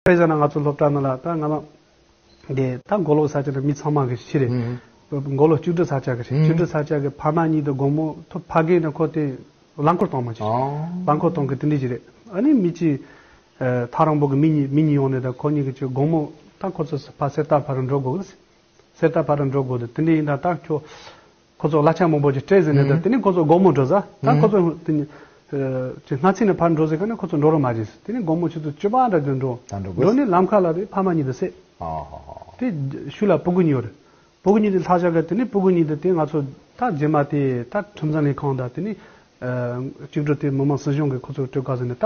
དཔེ་བཞག་ན་ང་ཚོ་སློབ་གྲྭ་ན་ལ་ད་ང་ལ་དེ་ད་མགོ་ལོག་ས་ཆ་ན་མི་ཚང་མ་གི་ཕྱི་རེད། མགོ་ལོག་བཅུ་དྲུག་ས་ཆ་གི་རེད་བཅུ་དྲུག་ས་ཆ་གི་ཕ་མ་གཉིས་དང་དགོང་མོ་ཐོ་ཕ་གིན་ན་ཁོ་དེ་རླངས་འཁོར་གཏོང་མ་ཅི་ཞིག་རླངས་འཁོར་གཏོང་གི་དེ་འདྲི་ཅི་རེད་ཨ་ནི་མི་གཅིག་ཐག་རིང་པོ་གི་མི་གཉིས་མི་གཉིས་ཡོང་ནས་ད་ཁོ་གཉིས་གི་ཆུ་དགོང་མོ་ད་ཁོ་ཚོ་ཕ་གསེར་རྟ་ཕ་རུ་འགྲོ་དགོ་གི་ལ་སེར་རྟ་ཕ་རུ་འགྲོ་དགོ་དེ་འདྲི་ཡིན་ད་ད་ཁྱོ། ཁོ་ཚོ་གླ་ཆ་མང་པོ་ཅིག་སྤྲད་ཟིན་ནས་དེ་ནས་ཁོ་ཚོ་དགོང་མོ་འགྲོ་ས་ད་ཁོ་ཚོ་དེ་ནས་ཆེ་སྔ་ཚིགས་ནས་ཕར་འགྲོ་ཟེར་ག་ནས་ཁོ་ཚོ་འགྲོ་རོགས་མ་བྱེད་ཟེར་དེ་ནས་དགོང་མོ་ཆུ་ཚོད་བཅོ་པ་འདྲ་དུ་འགྲོ། འགྲོ་ནས་ལམ་ཁ་ལ་རེད་ཕ་མ་གཉིས་དང་བསད། དེ་ཤུལ་ལ་སྤུ་གུ་གཉིས་ཡོད། སྤུ་གུ་གཉིས་དེ་ལྷག་བཞག་གི་དེ་ནས་སྤུ་གུ་གཉིས་དེ་དེ་ང་ཚོ་ད་རྗེས་མ་དེ་ད་ཁྲིམས་བཟང་ལས་ཁང་དང་དེ་ནས་གཅིག་འགྲོ་དེ་མི་མང་སྲིད་གཞུང་གི་ཁོ་ཚོ་སྤྲོད་ག་ཟེར་ནས་ད་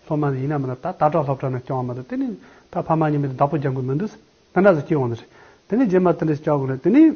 སློབ་མ་ཡིན་ན་མིན་ན་ད་ལྟ་དྲག་སློབ་གྲྭ་ནས་བསྐྱང་བ་མ་གཏོགས་དེ་ནས་ད་ཕ་མ་གཉིས་མེད་དེ་བདག་པོ་རྒྱག་དགོས་མི་འདུག་ཟེར་དེ་འདྲ་ཟེར་སྐྱིད་འོང་ཟེར། དེ་ནས་རྗེས་མ་དེ་འདྲ་ཞིག་བསྐྱང་དགོས་ན་དེ་ནས།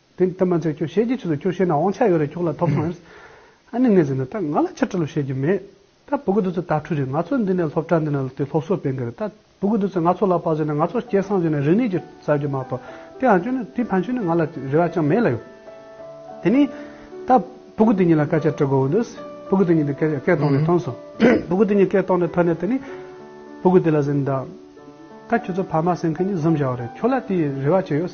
དེ་ལྟར་མ་བྱེད་ཁྱོད་ཤེས་ཀྱི་ཆུ་ཚོད་ཁྱོད་ཤེས་ན་དབང་ཆ་ཡོད་རེད་ཁྱོད་ལ་ཐོབ་སོང་ཨེ། ཨ་ནེ་ངས་ཟེར་ནས་ད་ང་ལ་ཕྱིར་དྲི་ལོ་བཤད་ཀྱི་མེད། ད་བུ་གུ་དོ་ཚོས་དྭ་ཕྲུག་རེད་ང་ཚོ་འདི་ནས་སློབ་གྲྭ་འདི་ནས་དེ་སློབ་གསོ་སྤེལ་གི་རེད་ད་བུ་གུ་དོ་ཚོས་ང་ཚོ་ལ་བག་ཟོས་ནས་ང་ཚོ་སྐྱེ་སངས་རྒྱུ་ནས་རིག་གནས་ཀྱི་གསར་འགྱུར་མ་གཏོགས་དེའང་ཁྱོད་ནི་དེའི་ཕན་ཆོད་ནི་ང་ལ་རེ་བ་ཅང་མེད་ལ་ཡོད། དེ་ནས་ད་བུ་གུ་དེ་གཉིས་ལ་སྐད་ཆ་དྲི་དགོས་འོས་འདུག་བུ་གུ་དེ་གཉིས་དེ་སྐད་སྐད་ཐོག་ནས་ཐོན་སོང། བུ་གུ་དེ་གཉིས་སྐད་ཐོག་ནས་ཐོན་ནས་དེ་ནས་བུ་གུ་དེ་ལ་ཟེར་ནས་ད། ད་ཁྱོད་ཚོ་ཕ་མ་སེམས་ཁུར་ནི་གཟིམ་བཞག་བ་རེད་ཁྱོད་ལ་དེའི་རེ་བ་ཅི་ཡོད།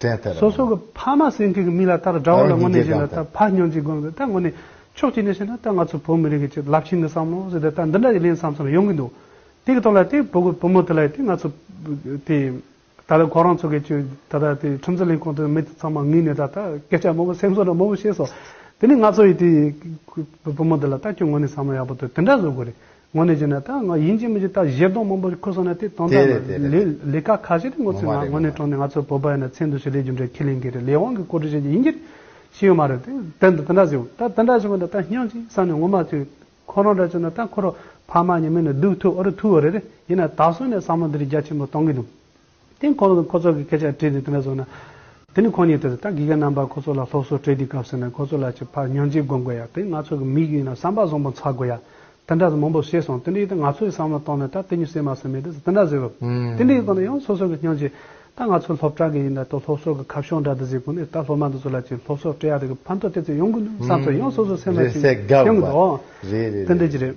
དྲན་ཐལ། སོ་སོ་གི་ཕ་མ་སེང་གེ་གི་མིག་ལ་ལྟར་དགྲ་བོ་ལ་དངོས་གནས་བཞིན་ན་ད་ཕ་སྨྱོན་ཅིག་དགོངས་ཏེ་ད་དངོས་གནས་ཕྱོགས་གཅིག་ནས་བཤད་ན་ད་ང་ཚོ་བོད་མི་རིགས་ཀྱི་ཆེད་རླབས་ཆེན་གྱི་བསམ་བློ་ཟེར་ཏེ་ད་འདི་འདྲ་ཡི་ལན་བསམ་བསམ་ཡོང་གི་འདུག་དེ་གི་ཐོག་ལ་དེ་བོད་བུ་མོ་དེ་ལ་ཡི་དེ་ང་ཚོ་དེ་ད་ལོ་ཁོ་རང་ཚོ་གི་ཆོས་ད་ལྟ་དེ་ཁྲིམས་རྩོད་ལེན་ཁང་དུ་མི་དེ་ཚང་མ་ངུས་ནས་ད་ད་སྐད་ཆ་མང་པོ་སེམས་གསོ་དང་མང་པོ་བཤད་སོང་དེ་ནས་ང་ཚོ་ཡི་དེ་བོད་བུ་མོ་དེ་ལ་ད་ཁྱོད་དངོས་གནས་བསམ་བློ་ཡག་པོ་དེ་དེ་འདྲ་བཟོ་དགོས་རེད། ངོ་ནས་བྱས་ན་ད་ང་ཡིན་གཅིག་མིན་གཅིག་ད་གཞས་གདོང་མང་པོ་ཁུར་སོང་ན་དེ་དོན་དག་ནི་ལས་ལས་ཀ་ཁ་ཤས་དེ་ངོ་ཚའི་ངང་ངོ་ནས་དྲོངས་ནས་ང་ཚོ་བོད་པ་ཡིན་ན་མཚན་དུ་ཞིག་ལས་རྒྱུ་འབྲས་ཁས་ལེན་གི་རེད་ལས་དབང་གི་བཀོད་སྒྲིག་བྱས་ཀྱི་ཡིན་གྱི་ཤེས་ཡོད་མ་རེད་དེ་དེ་འདི་འདྲ་ཟེར་ད་འདི་འདྲ་བྱས་པ་འདི་ད་སྙིང་གཅིག་བསམ་ནས་ངོ་མ་ཐུག་ཁོ་རང་འདྲ་བྱས་ན་ད་ཁོ་རང་ཕ་མ་ཉེ་མི་ནི་སྡུག་ཐུག་ཨོ་རེད་ཐུག་ཨོ་རེད་རེད་ཡིན་ན་ད་སོང་ནས་བསམ་བློ་འདི་རིགས་རྒྱ་ཆེན་པོ་གཏོང་གི་འདུག་དེས་ཁོང་ལ་ཁོ་ཚོ་གི་སྐད་ཆ་དྲིས་ཏེ་དེ་འདྲ་བཟོ་ན། དེ་ནི་ཁོང་ཉིད་དེ་རེད་ད་གི་ག་རྣམ་པ་ཁོ་ཚོ་ལ་སློབ་གསོ་སྤྲད་དུས་སྐབས་ཟེར་ན་ཁོ་ཚོ་ལ་ཆེས་ཕར་ཉོན་ཅིག་དགོས་མགོ་ཡ་དེ་ང་ཚོ་གི་མིག་ཡིན་ན་བསམ་པ་བཟང་པོ་འཚག་དགོས་ཡ་དེ་འདྲ་ཟེར་མང་པོ་ཤེས་སོང་དེ་འདྲའི་ཡིན་ད་ང་ཚོ་ཡི་བསམ་བློ་གཏོང་ནས་ད་དེ་ཉིད་སེ་མ་སེ་མེད་དེ་འདྲ་ཟེར་རོ་དེ་འདྲའི་གཏོང་ན་ཡང་སོ་སོ་གི་སྙིང་རྗེ་ད་ང་ཚོ་སློབ་གྲྭ་གི་ཡིན་ད་དོ་སློབ་གསོ་གི་ཁ་ཕྱོགས་འདྲ་དེ་ཟེར་དགོས་ནས་ད་སློབ་མ་འདི་ཚོ་ལ་ཆེས་སློབ་གསོ་སྤྲད་ཡ་དེ་གི་ཕན་ཐོག་དེ་ཚོ་ཡོང་དགོས་འདུག་བསམ་ཚོད་ཡང་སོ་སོ་སེ་མ་སེ་ཡོང་གི་འདུག་དེ་འདྲ་གྱི་རེད།